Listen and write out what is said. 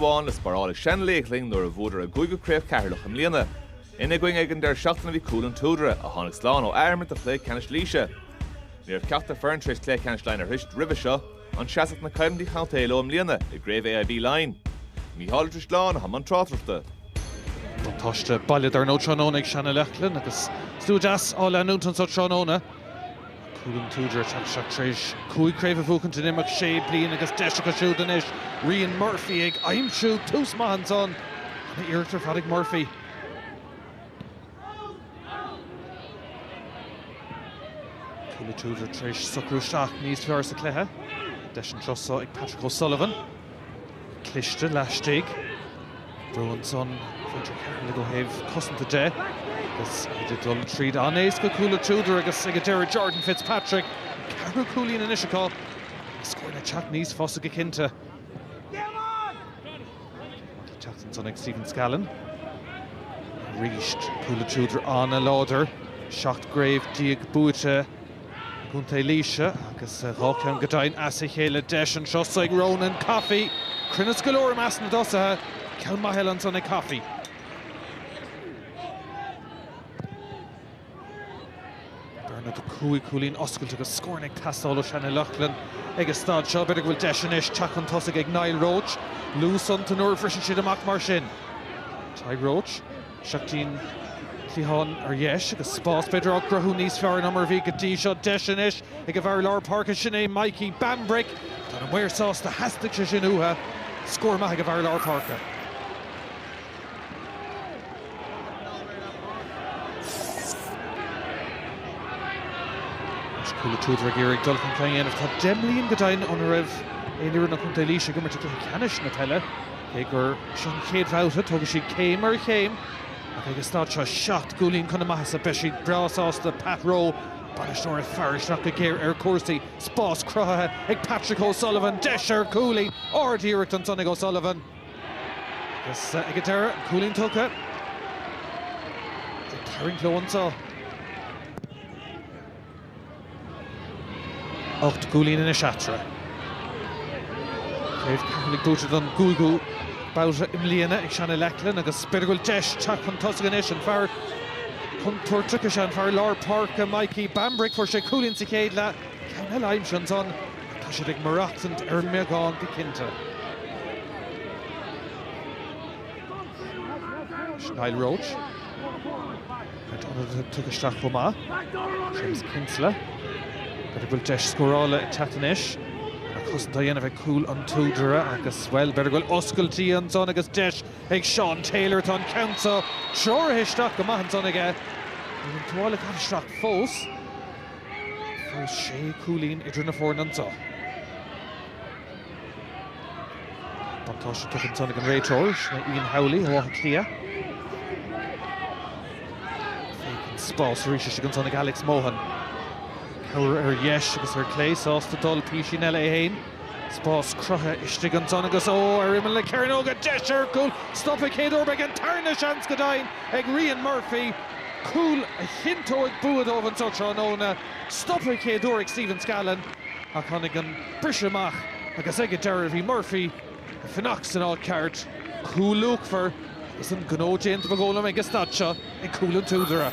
Amháin le spáráil ag Seanleithghlinn nuair a bhuadar a gcúigiú craobh Cheatharlach i mbliana. Ina gcoinne ag an deireadh seachtaine bhí Cúil an tSúdaire, a tháinig slán ó athimirt de chluiche ceannais Laoise. Ní raibh ceachtar foireann tar éis cluiche ceannais Laighean a shroisint roimhe seo, an seasfadh na coimhlintí contae leo i mbliana i gcraobh AIB Laighean. Mícheál Ó Drisleáin atá i mbun tráchtaireachta. Buntáiste baile dar ndóigh tráthnóna ag Seanleithghlinn agus slua deas á leanúint anso tráthnóna. Cúil an tSúdaire tá siad tréis cúig craobh a bhuachaint in imeacht sé bliain agus deis acu siúd anois. Ryan Murphy ag aimsiú tús maith ansan. An iarracht ar fad ag Murphy. Cúil an tSúdaire tréis socrú isteach níos fearr sa cluiche. Deis an turas so ag Patrick O Sullivan. cliste laistigh. Brú ansan Frederick Kaepernick ó thaobh cosanta de agus iad ag dul tríd an-éasca. Cúil an tSúdaire agus ag an deireadh Jordan Fitzpatrick. An ceathrú cúilín anois acu is scóranna ag teacht níos fusa go cinnte. Ag teacht ansan ag Stephen Scallon. Arís Cúil an tSúdaire an-láidir. 17 gcraobh buaite. gContae Laoise agus dhá cheann go deimhin as a chéile. Deis an turas so ag Ronan Coffey. Cruinneas go leor i measc na dtosaithe. Ceann maith eile ansan ag Coffey. Bearna de chúig chúilín oscailte agus scóranna ag teastáil ó Sheanleithghlinn ag an staid seo. B'fhéidir go bhfuil deis anois teacht chun tosaigh ag Niall Roche. Luas iontu nuair a bhriseann siad amach mar sin. Tadhg Roche. Seachtain cliatháin ar dheis agus spás b'fhéidir á gcruthú níos fearr ná mar a bhí go dtí seo. Deis anois ag an bhfear lár páirce, sin é Mikey Bambrick. Tá na maoir sásta, theastaigh sé sin uatha. Scór maith ag an bhfear lár páirce. Anois Cúil an tSúdaire ag iarraidh dul chun cinn a dhéanamh. Tá deich mbliain go deimhin óna raibh aon fhoireann ó Chontae Laois ag imirt i gcluiche ceannais na peile. Cé gur seo an chéad bhabhta, tógfaidh siad céim ar chéim ach ag an staid seo seacht gcúilín chun a maitheasa beidh siad breá sásta Pat Roe, bainisteoir ag faire isteach go géar ar chúrsaí. Spás cruthaithe ag Patrick O'Sullivan, deis ar chúilín ard-iarracht ansan ag O'Sullivan agus ag an deireadh an cúilín tugtha. Ag tarraingt leo anso. Ocht gcúilín anois eatarthu. Craobh Ceatharlaigh buaite don gcúigiú babhta i mbliana ag Seanleithghlinn agus b'fhéidir go bhfuil deis teacht chun tosaigh anois. An fear contúirteach is é an fear lár páirce, Mikey Bambrick. Fuair sé cúilín sa chéad leath. Ceann eile aimsithe ansan. Tá siad ag maireachtaint ar an mbeagán go cinnte. Niall Roche. Caint ionadaí tugtha isteach chomh maith. Séamus Kinsella, b'fhéidir go bhfuil deis scórála ag teacht anois. An-chosaint á dhéanamh ag Cúil an tSúdaire agus, bhuel, b'fhéidir go bhfuil oscailtí ansan agus deis ag Seán Taylor. Tá an ceann seo treoraithe isteach go maith ansan aige. Níl an tuáille caite isteach fós. Fós sé cúilín idir na foirne anso. Buntáiste tugtha ansan ag an réiteoir, sin é Ian Howley ó Áth Cliath. Féachann spás arís istigh ansan ag Alex Mohan. Cabhair ar dheis agus ar clé, sásta dul písín eile é fhéin. Spás cruthaithe istigh ansan agus ó, ar imeall na cearnóige, deis ar chúl! Stoptha an chéad uair, beidh an tarna seans go deimhin ag Ryan Murphy, cúl a chinnteoidh bua dóibh anso tráthnóna. Stoptha an chéad uair ag Stephen Scallon. ach tháinig an briseadh amach agus ag an deireadh bhí Murphy ag fanacht san áit cheart. Cúl luachmhar agus an gnó déanta ba dhóigh liom ag an staid seo ag Cúil an tSúdaire.